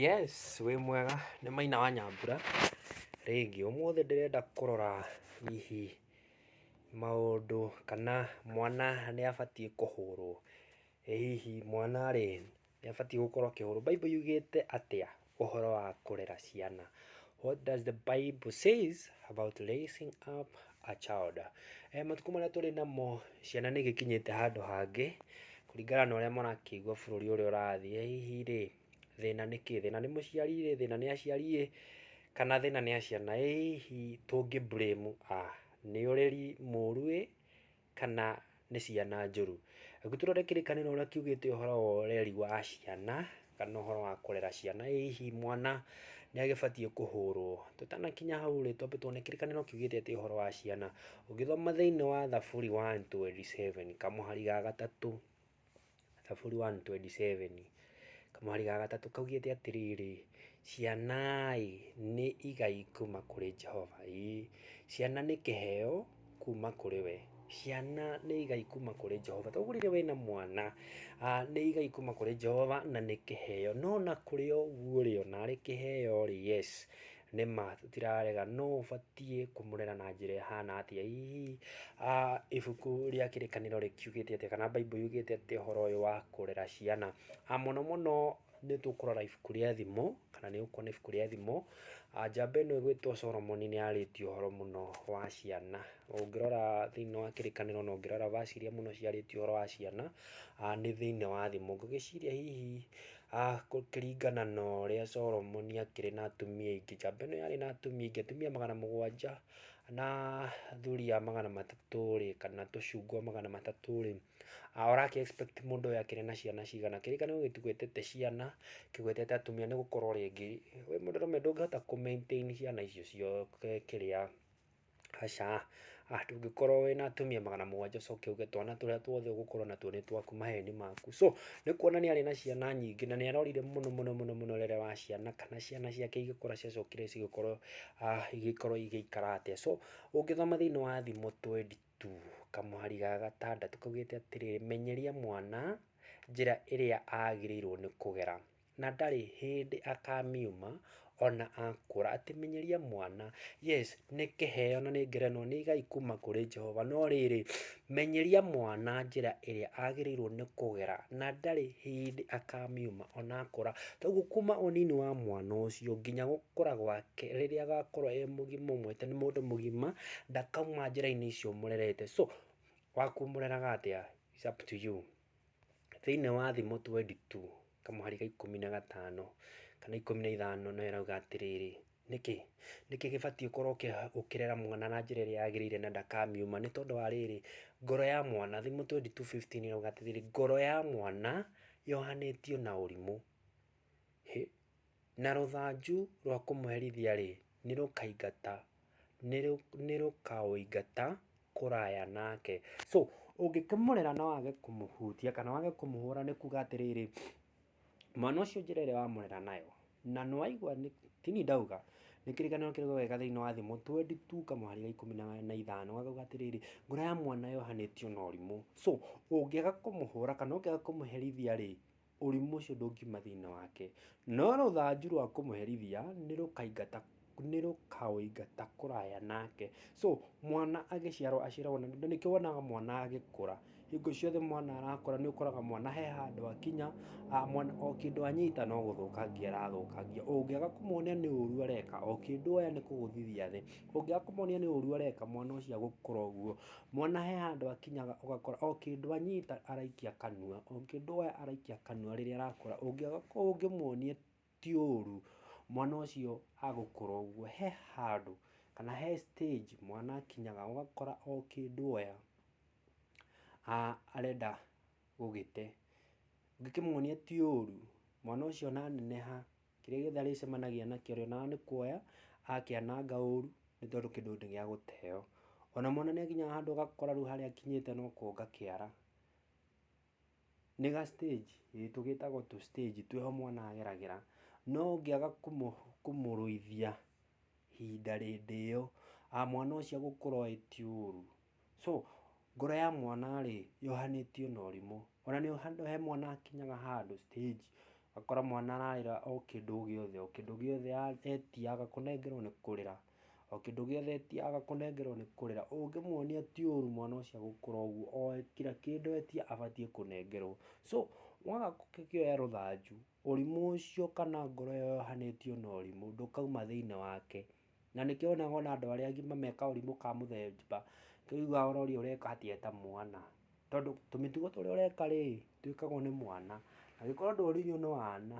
Yes, wĩ mwega nĩ Maina wa Nyambura, rĩngĩ ũmũthĩ ndĩrenda kũrora hihi maũndũ kana mwana nĩ abatiĩ kũhũrwo, ĩ hihi mwana rĩ nĩ abatiĩ gũkorwo akĩhũrwo? Bible yugĩte atĩa ũhoro wa kũrera ciana? What does the Bible says about raising up a child. Matukũ marĩa tũrĩ namo ciana nĩ igĩkinyĩte handũ hangĩ kũringana na ũrĩa marakĩigua bũrũri ũrĩa ũrathiĩ. Ĩ hihi rĩ, thĩna nĩ kĩĩ? Thĩna nĩ mũciari ĩ, thĩna nĩ aciari ĩ, kana thĩna nĩ a ciana? Ĩ hihi tũngĩ blame a? Nĩ ũreri mũru ĩ? kana nĩ ciana njũru. Rĩu tũrore kĩrĩkanĩro ũrĩa kiugĩte ũhoro wa ũreri wa ciana kana ũhoro wa kũrera ciana. Ĩ hihi mwana nĩ agĩbatiĩ kũhũrwo? Tũtanakinya hau rĩ, twambe tuone kĩrĩkanĩro kiugĩte atĩa ũhoro wa ciana. Ũngĩthoma thĩinĩ wa Thaburi one twenty seven kamũhari ga gatatũ, Thaburi one twenty seven kamũhari ga gatatũ kaugĩte atĩrĩrĩ, ciana-ĩ nĩ igai kuma kũrĩ Jehova, ĩĩ ciana nĩ kĩheo kuma kũrĩ we, ciana nĩ igai kuma kũrĩ Jehova. Toguo rĩrĩa wĩna mwana nĩ igai kuma kũrĩ Jehova na nĩ kĩheo, no ona kũrĩ o ũguo-rĩ, ona arĩ kĩheo-rĩ, yes, Nĩ ma tũtirarega no ũbatiĩ kũmũrera na njĩra ĩhana atĩa. Hihi ibuku rĩa kĩrĩkanĩro rĩkiugĩte atĩa kana Bible yugĩte atĩa ũhoro ũyũ wa kũrera ciana. Mũno mũno nĩ tũkũrora ibuku rĩa thimo kana nĩ ũkuona ibuku rĩa thimo. Njamba ĩno ĩgwĩtwo Solomon nĩ arĩtie ũhoro mũno wa ciana. Ũngĩrora thĩinĩ wa kĩrĩkanĩro na ũngĩrora verse iria mũno ciarĩtie ũhoro wa ciana nĩ thĩinĩ wa thimo. Ngũgĩciria hihi Kũringana na ũrĩa Solomoni akĩrĩ na atumia aingĩ, njamba ĩno yarĩ na atumia aingĩ, atumia magana mũgwanja na thuriya magana matatũ rĩ, kana tũcungwa magana matatũ rĩ, ũra kĩ expect mũndũ ũyũ akĩrĩ na ciana cigana? Kĩrĩkane ũyũ gĩtigwetete ciana, kĩgwetete atumia nĩ gũkorwo rĩngĩ, wĩ mũndũrũme ndũngĩhota kũ maintain ciana icio ciothe kĩrĩa. Aca, ndũngĩkorwo wĩna atumia magana mũgwanja ũcoke uge twana tũrĩa tuothe ũgũkorwo natuo nĩ twaku maheni maku. So nĩ kuona nĩ arĩ na ciana nyingĩ na nĩ arorire mũno mũno mũno mũno rĩrĩa wa ciana kana ciana ciake igĩkũra ciacokire cigĩkorwo igĩkorwo igĩikara atĩa. So ũngĩthoma thĩinĩ wa Thimo twendi tu, kamũhari ga gatandatũ kaugĩte atĩrĩrĩ, menyeria mwana njĩra ĩrĩa agĩrĩirwo nĩ kũgera. na ndarĩ hĩndĩ akamiuma ona akũra. Atĩ menyeria mwana, yes nĩ kĩheo na nĩ ngerenwa nĩ igai kuma kũrĩ Jehova, no rĩrĩ, menyeria mwana njĩra ĩrĩa agĩrĩirwo nĩ kũgera na ndarĩ hĩndĩ akamiuma ona akũra. Toguo kuma ũnini wa mwana ũcio nginya gũkũra gwake rĩrĩa agakorwo e mũgima ũmwĩte nĩ mũndũ mũgima, ndakauma njĩra-inĩ icio ũmũrerete. So, waku ũmũreraga atĩa, it's up to you. Thĩinĩ wa thimo twendi tu kamũhari ga ikũmi na gatano kana ikũmi na ithano nayo ĩrauga atĩrĩrĩ, nĩkĩ? Nĩkĩ gĩbatiĩ gũkorwo gĩkĩrera mwana na njĩra ĩrĩa yagĩrĩire na ndakamiuma? Nĩ tondũ wa rĩrĩ, ngoro ya mwana, thimo twendi tu fifteen ĩrauga atĩrĩrĩ, ngoro ya mwana yohanĩtio na ũrimũ. Na rũthanju rwa kũmũherithia-rĩ, nĩrũkaingata, nĩrũkaũingata kũraya nake. So, ũngĩkĩmũrera na wage kũmũhutia kana wage kũmũhũra nĩ kuga atĩrĩrĩ, mwana ũcio njĩra ĩrĩa wamũrera nayo, na nĩwaigua nĩ, ti niĩ ndauga, nĩ kĩrĩkanĩro kĩrĩa ũgeka thĩiniĩ wa Thimo twendi tuu kamũhari ga ikũmi na ithano gakauga atĩrĩrĩ, ngoro ya mwana yohanĩtio na ũrimũ. So, ũngĩaga kũmũhũra kana ũngĩaga kũmũherithia-rĩ. ũrimũ ũcio ndũngiuma thĩinĩ wake, no rũthanju rwa kũmũherithia nĩ rũkaingata nĩ rũkaũingata kũraya nake. So mwana agĩciarwo aciaragwo na nĩkĩo wonaga mwana agĩkũra, hingo ciothe mwana arakũra nĩ ũkoraga mwana he handũ akinya, mwana o kĩndũ anyita no gũthũkangia arathũkangia. Ũngĩaga kũmuonia nĩ ũũru areka, o kĩndũ oya nĩ kũgũthithia thĩ, ũngĩaga kũmuonia nĩ ũũru areka mwana ũcio agũkũra ũguo. Mwana he handũ akinyaga ũgakora o kĩndũ anyita araikia kanua, o kĩndũ oya araikia kanua rĩrĩa arakũra, ũngĩmuonia ti ũru, mwana ũcio agũkũra ũguo. He handũ kana he stage mwana akinyaga ũgakora o kĩndũ oya arenda gũgĩte. Ũngĩkĩmuonia ti ũru, mwana ũcio ona aneneha Kĩrĩa gĩothe arĩcemanagia nakĩo rĩ, o na nĩ kuoya akĩananga ũru nĩ tondũ kĩndũ nĩ gĩa gũteo. O na mwana nĩ akinyaga handũ ũgakora rĩu harĩa akinyĩte no kũnga kĩara. Nĩ ga stage, ĩĩ tũgĩtagwo tũ stage twĩho mwana ageragĩra, no ũngĩaga kũmũrũithia ihinda rĩndĩ ĩyo, mwana ũcio agũkũra oĩ ti ũru. So ngoro ya mwana-rĩ yohanĩtio na ũrimũ. Ona he mwana akinyaga handũ stage ũgakora mwana ararĩra o kĩndũ o gĩothe, o kĩndũ gĩothe etia aga kũnengerwo nĩ kũrĩra, o kĩndũ gĩothe etia aga kũnengerwo nĩ kũrĩra. Ũngĩmuonia ti ũru mwana ũcio agũkũra ũguo oĩ kira kĩndũ etia abatiĩ kũnengerwo. So waga gũkĩkĩoya rũthanju, ũrimũ ũcio kana ngoro ĩyo yohanĩtio na ũrimũ ndũkauma thĩiniĩ wake. Na nĩkĩo wonaga ona andũ arĩa agima me kaũrimũ ka mũthemba kĩu ugaga ona ũrĩa ũreka hatia eta mwana. Tondũ tũmĩtugo tũrĩa ũreka rĩ, twĩkagwo nĩ mwana. Na angĩkorwo ndwarĩirio nĩ wana,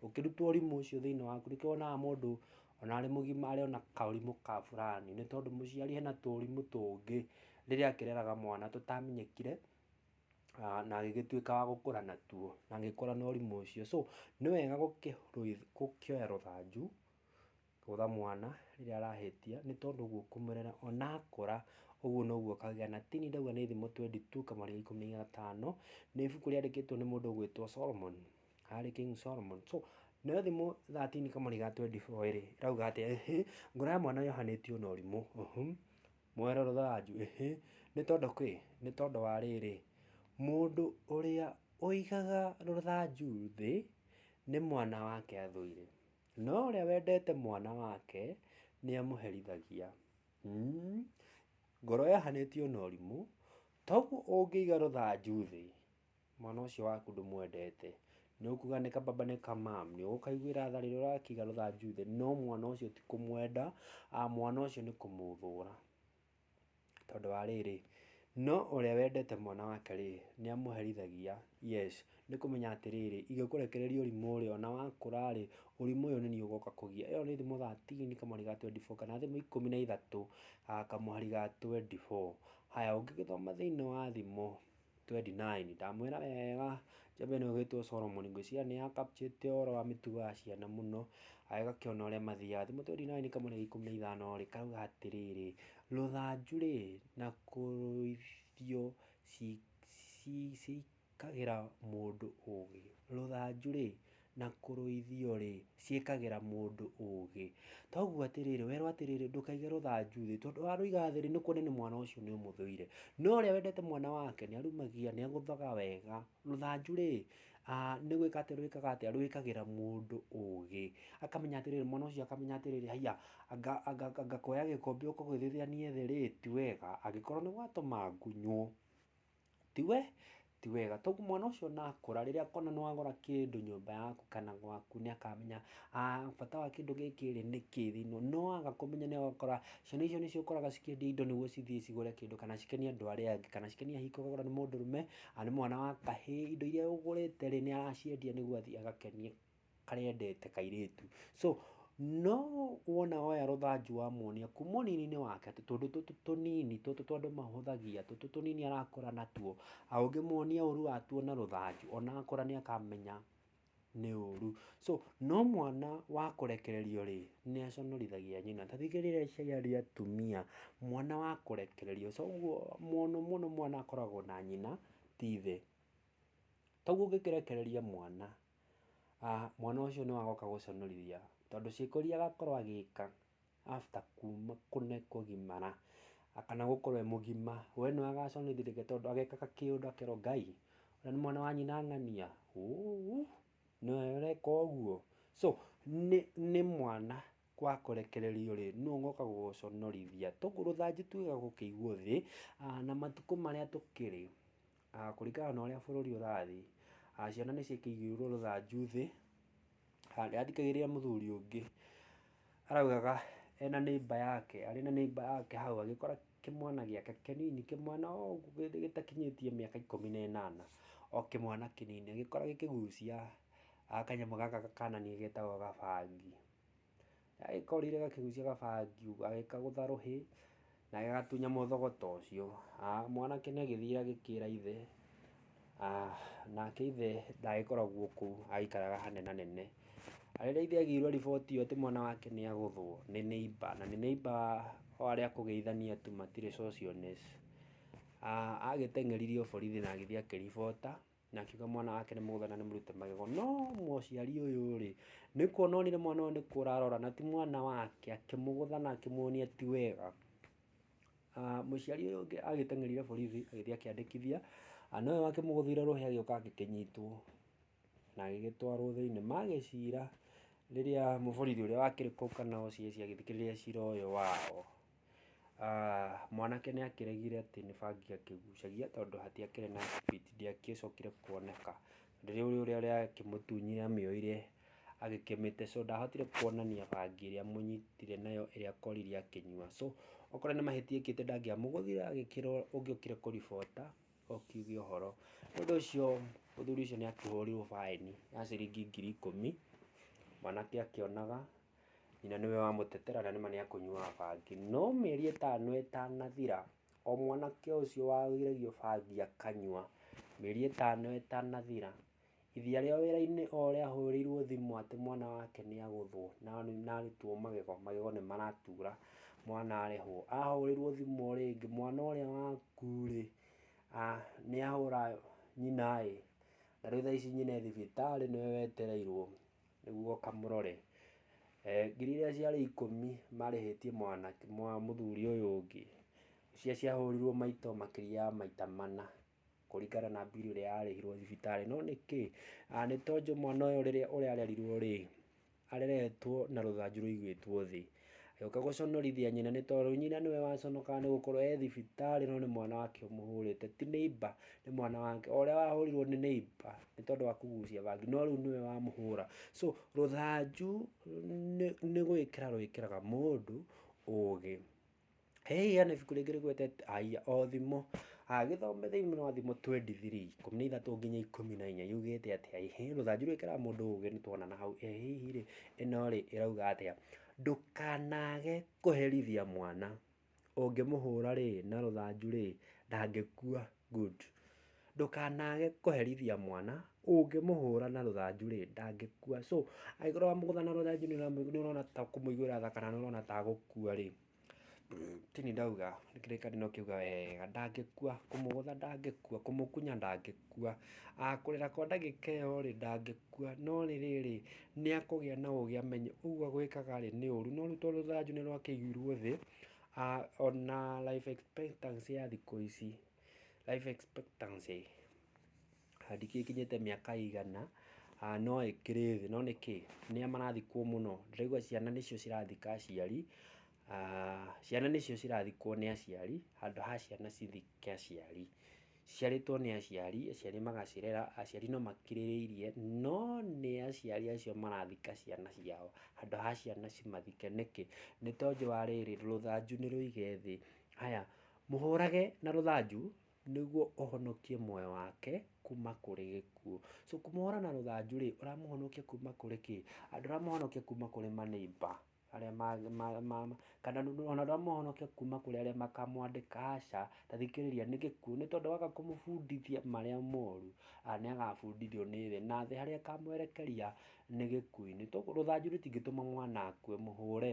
ũkĩrutwo ũrimũ ũcio thĩinĩ waku, nĩkĩo wonaga mũndũ ona arĩ mũgima arĩ ona kaũrimũ ka burani. Nĩ tondũ mũciari ena tũũrimũ tũngĩ rĩrĩa akĩreraga mwana tũtamenyekire, na agĩgĩtuĩka wa gũkũra natuo, na agĩkũra na ũrimũ ũcio. So nĩ wega gũkĩoya rũthanju. Kũtha mwana rĩrĩa arahĩtia nĩ tondũ ũguo kũmũrera ona akũra ũguo noguo akagĩa na tini ndauga nĩ thimo twendi tu kamarĩa ikũmi na gatano nĩ ibuku rĩandĩkĩtwo nĩ mũndũ ũgwĩtwo Solomon harĩ King Solomon so nayo thimo thatini kamarĩa ga twendi boo rĩ ĩrauga atĩ ĩhĩ ngoro ya mwana yohanĩtio na ũrimũ ũhũ mwero rũthanju ĩhĩ nĩ tondũ kĩ nĩ tondũ wa rĩrĩ mũndũ ũrĩa ũigaga rũthanju thĩ nĩ mwana wake athũire. No ũrĩa wendete mwana wake nĩ amũherithagia. Mm. Ngoro yahanĩtio na ũrimũ, toguo ũngĩiga rũthanju thĩ, mwana ũcio waku ndũmwendete. Nĩ ũkuga nĩ kababa nĩ kamam, nĩ ũgũkaiguĩra tha rĩrĩa ũrakĩiga rũthanju thĩ, no mwana ũcio ti kũmwenda, mwana ũcio nĩ kũmũthũra. tondũ wa rĩrĩ, no ũrĩa wendete mwana wake rĩ, nĩ amũherithagia, yes, nĩ kũmenya atĩ rĩrĩ, ingĩkũrekereria ũrimũ ũrĩa ona wakũra rĩ, ũrimũ ũyũ nĩ niĩ ũgoka kũgia. Ĩyo nĩ thimũ thirteen kamũhari ga twenty four kana thimũ ikũmi na ithatũ kamũhari ga twenty four. Haya ũngĩgĩthoma thĩinĩ wa thimũ 29 ndamwĩra wega Jabini ũgĩtwo Solomoni ngwĩciria nĩ ya captuĩte ũhoro wa mĩtugo ya ciana mũno agakĩona ũrĩa mathiaga thimo 29 kamũira ikũmi na ithano rĩ kauga atĩrĩrĩ rũthanju rĩ na kũrũithio cikagĩra mũndũ ũgĩ rũthanju rĩ na kũrũithio-rĩ, ciĩkagĩra mũndũ ũũgĩ. Toguo atĩrĩrĩ, werwo atĩrĩrĩ, ndũkaige rũthanju thĩ, tondũ warũiga thĩ-rĩ, nĩkuonania nĩ mwana ũcio nĩũmũthũire. No ũrĩa wendete mwana wake, nĩarumagia, nĩagũthaga wega. Rũthanju-rĩ, nĩ gwĩka atĩ rwĩkaga atĩa, rwĩkagĩra mũndũ ũũgĩ. Akamenya atĩrĩrĩ, mwana ũcio akamenya atĩrĩrĩ, haiya, anga, anga, anga kuoya gĩkombe ũkũgũthithanie thĩ-rĩ, ti wega, angĩkorwo nĩgwatũma ngunywo. Ti we? Ti wega. Tondũ mwana ũcio ona akũra, rĩrĩa akona nĩ wagũra kĩndũ nyũmba yaku kana gwaku nĩ akamenya ah bata wa kĩndũ gĩkĩ rĩ, nĩ kĩĩ thĩinĩ ũũ. No waga kũmenya nĩ ũgakora ciana icio nĩcio ũkoraga cikĩendia indo nĩguo cithiĩ cigũre kĩndũ kana cikenie andũ arĩa angĩ, kana cikenie hihi korwo nĩ mũndũrũme, kana nĩ mwana wa kahĩĩ, indo irĩa ũgũrĩte rĩ, nĩ araciendia nĩguo athiĩ agakenie. karĩa endete kairĩtu. So no wona oya rũthanju wamuonia kuma ũnini-inĩ wake atĩ tũndũ tũtũ tũnini tũtũ twa andũ mahũthagia tũtũ tũnini arakũra natuo, ũngĩmuonia ũru watuo na rũthanju ona akũra nĩ akamenya nĩ ũru. So no mwana wa kũrekererio rĩ, nĩ aconorithagia nyina. Ta thikĩrĩria iria cia atumia, mwana wa kũrekererio so ũguo mũno mũno mwana akoragwo na nyina ti ithe. Toguo ũngĩkĩrekereria mwana... mwana ũcio nĩ wagoka gũconorithia tondũ ciĩko iria agakorwo agĩka after kuma kũgimara kana gũkorwo e mũgima, we nĩwe agaconorithĩrĩria tondũ agekaga kĩũndũ akerwo Ngai ũrĩa nĩ mwana wa nyina ng'ania ũũ nĩwe ũreka ũguo. So nĩ mwana wa kũrekererio rĩ nũũ ũgoka gũgũconorithia. Rũthanju tuge gũkĩigwo thĩ na matukũ marĩa tũkĩrĩ. Kũringana na ũrĩa bũrũri ũrathiĩ, ciana nĩ ciĩkĩirwo rũthanju thĩ, harĩa athikagĩrĩria mũthuri ũngĩ araugaga e na neighbor yake, arĩ na neighbor yake hau agĩkora kĩmwana gĩake kĩnini, kĩmwana o ũguo gĩtakinyĩtie mĩaka ikũmi na ĩnana, o kĩmwana kĩnini, agĩkora gĩkĩgucia kanyamũ gaka kananĩa getagwo gabangi. Agĩkorire gakĩgucia gabangi ũguo agĩkagũtha rũhĩ na gagatunya mũthogota ũcio. Mwanake nĩ agĩthire agĩkĩra ithe, nake ithe ndagĩkoragwo kũu aikaraga hanene hanene. Rĩrĩa ithe agĩirwo riboti ĩyo atĩ mwana wake nĩ agũthwo nĩ neighbour na nĩ neighbour wa arĩa a kũgeithania tu matirĩ socialness, agĩteng'eririo borithi na agĩthiĩ akĩribota. na akiuga mwana wake nĩ mũgũtha na nĩ mũrute magego no mũciari ũyũ rĩ nĩ kuona onire mwana ũyũ nĩ kũra arora na ti mwana wake akĩmũgũtha na akĩmuonia ti wega Ah, mũciari ũyũ ũngĩ agĩteng'erire borithi agĩthiĩ akĩandĩkithia Ah, nowe wakĩmũgũthĩire rũhĩ agĩũka agĩkĩnyitwo na agĩgĩtwarwo thĩinĩ magĩcira rĩrĩa mũborithi ũrĩa wakĩrĩ kũu kana OCS agĩthikĩrĩria cira ũyũ wao Mwanake nĩ akĩregire atĩ nĩ bangi akĩgucagia tondũ hatiakĩrĩ na thibiti ndĩagĩcokire kuoneka. Rĩu ũrĩa ũrakĩmũtunyire amĩoire agĩkĩmĩte so ndahotire kuonania bangi ĩrĩa amũnyitire nayo ĩrĩa akorire akĩnyua. So okorwo nĩ mahĩtia ekĩte ndangĩamũgũthire agĩkĩrwo ũngĩokire kũribota ũkiuge ũhoro. Nĩ ũndũ ũcio mũthuri ũcio nĩ akĩhũrirwo baĩni ya ciringi ngiri ikũmi, mwanake akĩonaga Nyina nĩwe wamũtetera na nĩma nĩ akũnyuaga bangi. No mĩeri ĩtano ĩtanathira, o mwanake ũcio wagĩragio bangi akanyua, mĩeri ĩtano ĩtanathira, ithi arĩ o wĩra-inĩ o ũrĩa ahũrĩirwo thimũ atĩ mwana wake nĩ agũthwo na arutwo magego, magego nĩ maratura, mwana arĩhwo. Ahũrĩrwo thimũ o rĩngĩ, mwana ũrĩa waku rĩ, nĩ ahũra nyina ĩ, na rĩu thaa ici nyina e thibitarĩ nĩwe wetereirwo. nĩguo kamũrore. Ngiri iria ciarĩ ikũmi marĩhĩtie mũthuri ũyũ ũngĩ, iria ciahũrirwo maito makĩria ya maita mana kũringana na mbirũ ĩrĩa yarĩhirwo thibitarĩ. No nĩkĩ? Nĩ tondũ mwana ũyũ rĩrĩa ũrĩa arerirwo rĩ, areretwo na rũthanju rũigĩtwo thĩ. Agĩũka gũconorithia nyina nĩ tondũ nyina nĩwe waconokaga nĩ gũkorwo e thibitarĩ no nĩ mwana wake ũmũhũrĩte ti neighbor nĩ mwana wake o ũrĩa wahũrirwo nĩ neighbor nĩ tondũ wa kũgucia bangi no rĩu nĩwe wamũhũra so rũthanju nĩ gwĩkĩra rwĩkĩraga mũndũ ũgĩ. Hĩĩ hena ibuku rĩngĩ rĩgwete haiya o thimũ, gĩthome thĩinĩ wa thimũ twendi thirii, ikũmi na ithatũ nginya ikũmi na inya yugĩte atĩa ĩ, hĩĩ rũthanju rwĩkĩraga mũndũ ũgĩ nĩ tuona na hau, ĩ hihi rĩ ĩno rĩ ĩrauga atĩa? Ndũkanage kũherithia mwana, ũngĩmũhũra rĩ na rũthanju rĩ ndangĩkua, good. Ndũkanage kũherithia mwana, ũngĩmũhũra na rũthanju rĩ ndangĩkua, so angĩkorwo wamũgũtha na rũthanju nĩ ũrona ta kũmũiguĩra tha kana nĩ ũrona ta agũkua rĩ. Tini ndauga kĩrĩkanĩro kĩu wega, ndangĩkua, kũmũgũtha ndangĩkua, kũmũkunya ndangĩkua, kũrĩra kwa ndagĩka ĩyo rĩ, ndangĩkua, no rĩrĩ rĩ, nĩ akũgĩa na ũgĩ amenye ũguo gwĩkaga rĩ, nĩ ũru, no rĩu tondũ rũthanju nĩ rwakĩigirwo thĩ, ona life expectancy ya thikũ ici, life expectancy. ndingĩkinyĩte mĩaka ĩigana, no ĩkĩrĩ thĩ, no nĩkĩ? Nĩ arĩa marathikwo mũno, ndĩraigua ciana nĩcio cirathika aciari, ciana nĩcio cirathikwo nĩ aciari handũ ha ciana cithike aciari. Ciciarĩtwo nĩ aciari, aciari magacirera, aciari no makirĩrĩirie, no nĩ aciari acio marathika ciana ciao handũ ha ciana cimathike. Nĩkĩ? Nĩ tondũ wa rĩrĩ, rũthanju nĩ rũige thĩ. Haya, mũhũrage na rũthanju. nĩguo ũhonokie muoyo wake kuma kũrĩ gĩkuũ. So kũmũhũra na rũthanju rĩ, ũramũhonokia kuma kũrĩ kĩ? Ndũramũhonokia kuma kũrĩ ma neighbour arĩa ma, ma, ma, ma kana ona ndũramũhonokia kuma kũrĩ arĩa makamwandĩka, aca. Ta thikĩrĩria, nĩ gĩkuũ. Nĩ tondũ waga kũmũbundithia marĩa moru, nĩ agabundithio nĩ thĩ, na thĩ harĩa ĩkamwerekeria nĩ gĩkuũ-inĩ. Rũthanju rũtingĩtũma mwana akue, mũhũre.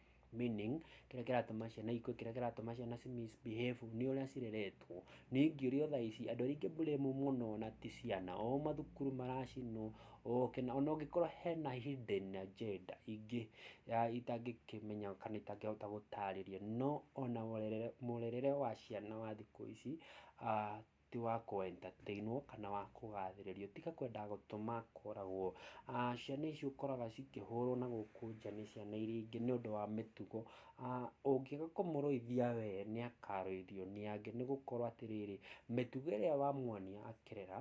meaning kĩrĩa kĩratũma ciana ikue kĩrĩa kĩratũma ciana ci misbehave nĩ ũrĩa cireretwo nĩ ingĩũrio thaa ici andũ arĩa ingĩmburĩmu mũno na ti ciana o mathukuru maracinwo oke na ona ũngĩkorwo hena hidden agenda ingĩ ya itangĩkĩmenya kana itangĩhota gũtarĩria no ona mũrerere wa ciana wa thikũ ici ah, ti wa kũ entertainwo kana wa kũgathĩrĩrio, tiga kwenda gũtũma kũragwo. Ciana ici ũkoraga cikĩhũrwo na gũkũ nja nĩ ciana iria ingĩ nĩ ũndũ wa mĩtugo. Ũngĩaga kũmũrũithia we nĩ akarũithio nĩ angĩ nĩ gũkorwo atĩrĩrĩ, mĩtugo ĩrĩa wamuonia akĩrera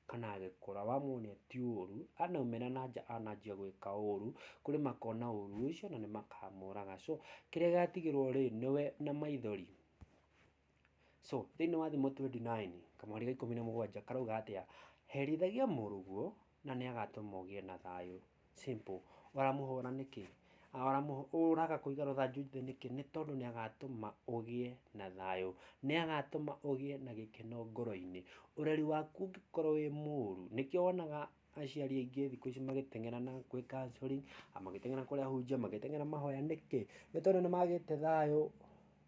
kana agĩkũra wamuonia ti ũru, anaumĩra na nja ananjia gwĩka ũru, kũrĩ makona ũru ũcio na nĩ makamũraga. So kĩrĩa gĩatigĩrwo rĩ, nĩwe na maithori. So thĩinĩ wa thimo 29 kamweri ga ikũmi na mũgwanja karauga atĩa? Herithagia mũrũguo na nĩ agatũma ũgĩe na thayũ. Simple. Ũramũhũra nĩkĩ? Ũraga kũiga rũthanju thĩ nĩkĩ? Nĩ tondũ nĩ agatũma ũgĩe na thayũ. Nĩ agatũma ũgĩe na gĩkeno ngoro-inĩ. Ũreri waku ũngĩkorwo wĩ mũru, nĩkĩo wonaga aciari aingĩ thikũ ici magĩteng'era na gwĩ counselling, magĩteng'era kũrĩa hunjia, magĩteng'era mahoya nĩkĩ? Nĩ tondũ nĩ magĩte thayũ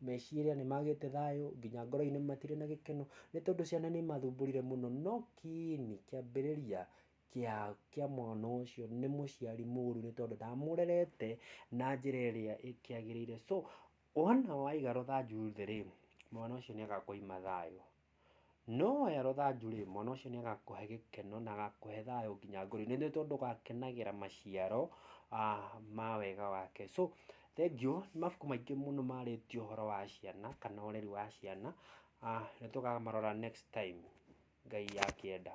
meciria nĩ magĩte thayũ nginya ngoro-inĩ matirĩ na gĩkeno nĩ tondũ ciana nĩ imathumburire mũno no kiini kĩambĩrĩria kĩa kĩa mwana ũcio nĩ mũciari mũru nĩ tondũ ndamũrerete na njĩra ĩrĩa ĩkĩagĩrĩire so wona waiga rũthanju thĩ rĩ, mwana ũcio nĩ agakua na thayũ. No woya rũthanju rĩ, mwana ũcio nĩ agakũhe gĩkeno na agakũhe thayũ nginya ngoro-inĩ, nĩ tondũ ũgakenagĩra maciaro ma wega wake. So thengiũ, nĩ mabuku maingĩ mũno marĩtie ũhoro wa ciana kana ũreri wa ciana, nĩ tũkamarora next time Ngai akĩenda.